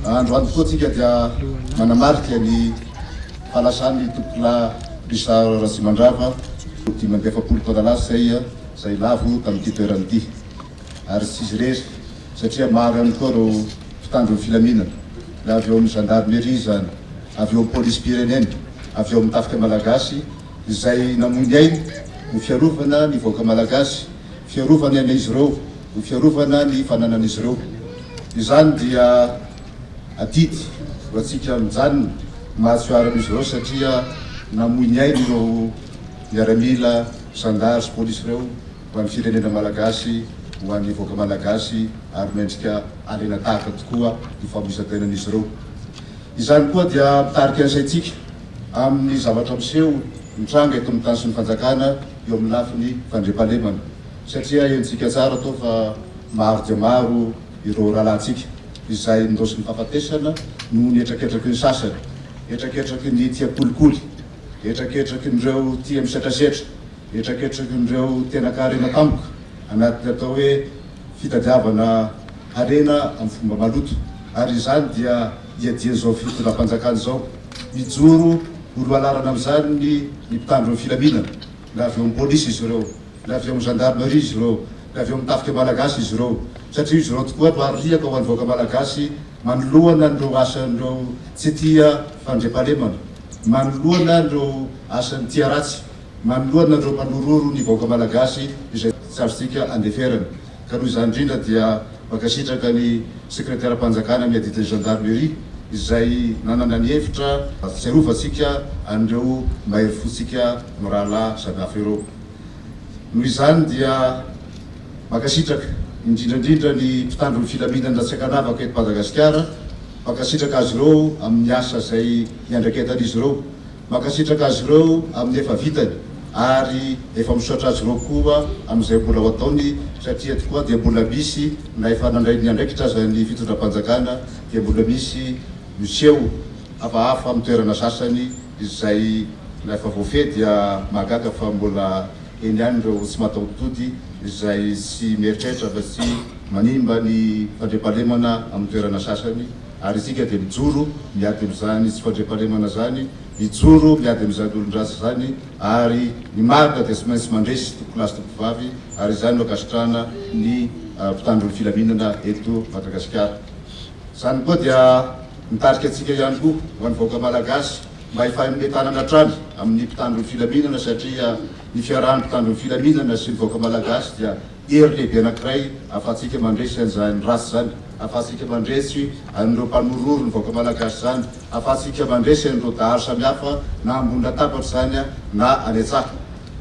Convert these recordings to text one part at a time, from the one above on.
Androany koa tsika dia manamarika ny fahalasan'ny Tompokolahy Richard Ratsimandrava dimy amby efapolo taona lasa izay lavo tamin'ity toerana ity. Ary tsy izy irery satria maro ihany koa ireo mpitandro ny filaminana, na avy eo amin'ny Gendarmerie izany, avy eo amin'ny Polisim-pirenena, avy eo amin'ny Tafika Malagasy izay namoy ny ainy ho fiarovana ny vahoaka Malagasy. fiarovany an'izy ireo, ny fiarovana ny fananan'izy ireo. Izany dia adidy ho antsika mijanona mahatsoiarana izy ireo satria namoy ny ainy ireo miaramila, zandary sy polisy ireo ho an'ny firenena malagasy, ho an'ny vahoaka malagasy ary mendrika harena tahaka tokoa ny famoizan-tenan'izy ireo. Izany koa dia mitarika ny saintsika. amin'ny zavatra miseho mitranga eto amin'ny tany sy ny fanjakana eo amin'ny lafiny fandriampahalemana satria henontsika tsara toa fa maro dia maro ireo rahalahintsika izay nindosy ny fahafatesana noho ny hetraketraky ny sasany, hetraketraky ny tia kolikoly, hetraketrakin'ireo tia misetrasetra, hetraketrakin'ireo tena kaharena tampoka anatin'ny atao hoe. fitadiavana harena amin'ny fomba maloto ary izany dia iadian'izao fitondram-panjakana izao. Mijoro ho lohalarana amin'izany ny mpitandro ny filaminana, na avy eo amin'ny polisy izy ireo, na avy eo amin'ny gendarmerie izy ireo, na avy eo amin'ny tafika malagasy izy ireo, satria izy ireo tokoa no ariaka ho an'ny vahoaka malagasy manoloana an'ireo asan'ireo tsy tia fandriampahalemana, manoloana ireo asan'ny tia ratsy. Manoloana ireo manororo ny vahoaka malagasy izay tsy azontsika andeferana ka noho izany indrindra dia mankasitraka ny Sekreteram-panjakana amin'ny adidin'ny Gendarmerie izay nanana ny hevitra hahatsiarovantsika an'ireo mahery fontsika mirahalahy samy hafa ireo. Noho izany dia mankasitraka indrindra indrindra ny mpitandro ny filaminana tsy ankanavaka eto Madagasikara, mankasitraka azy ireo amin'ny asa izay iandraiketan'izy ireo Mankasitraka azy ireo amin'ny efa vitany ary efa misaotra azy ireo koa amin'izay mbola ho ataony satria eto koa dia mbola misy na efa nandray ny andraikitra aza ny fitondram-panjakana dia mbola misy miseho hafahafa amin'ny toerana sasany izay na efa voafehy dia mahagaga fa mbola eny ihany ireo tsy mataho-tody izay tsy mieritreritra afa-tsy manimba ny fandriampahalemana amin'ny toerana sasany Ary isika dia mijoro miady amin'izany tsy fandriampahalemana izany, mijoro miady amin'izany olon-dratsy izany, ary ny marina dia tsy maintsy mandresy tompokolahy sy tompokovavy, ary izany no ankasitrahana ny mpitandro ny filaminana eto Madagasikara. Izany koa dia mitarika antsika ihany koa ho an'ny vahoaka Malagasy mba hifay amin'ilay tanana hatrany amin'ny mpitandro ny filaminana, satria ny fiarahan'ny mpitandro ny filaminana sy ny vahoaka Malagasy dia Hery lehibe anankiray ahafahantsika mandresy an'izany ratsy izany, ahafahantsika mandresy an'ireo mpanorohoro ny vahoaka malagasy izany, ahafahantsika mandresy an'ireo dahalo samihafa na ambony latabatra izany na any an-tsaha.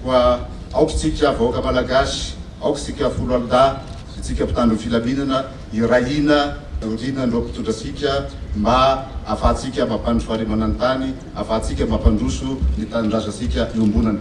Koa aoka isika vahoaka malagasy, aoka isika foloalindahy, isika mpitandro ny filaminana hiray hina aoriana an'ireo mpitondra antsika mba ahafahantsika mampandry fahalemana ny tany, ahafahantsika mampandroso ny tanindrazantsika iombonana.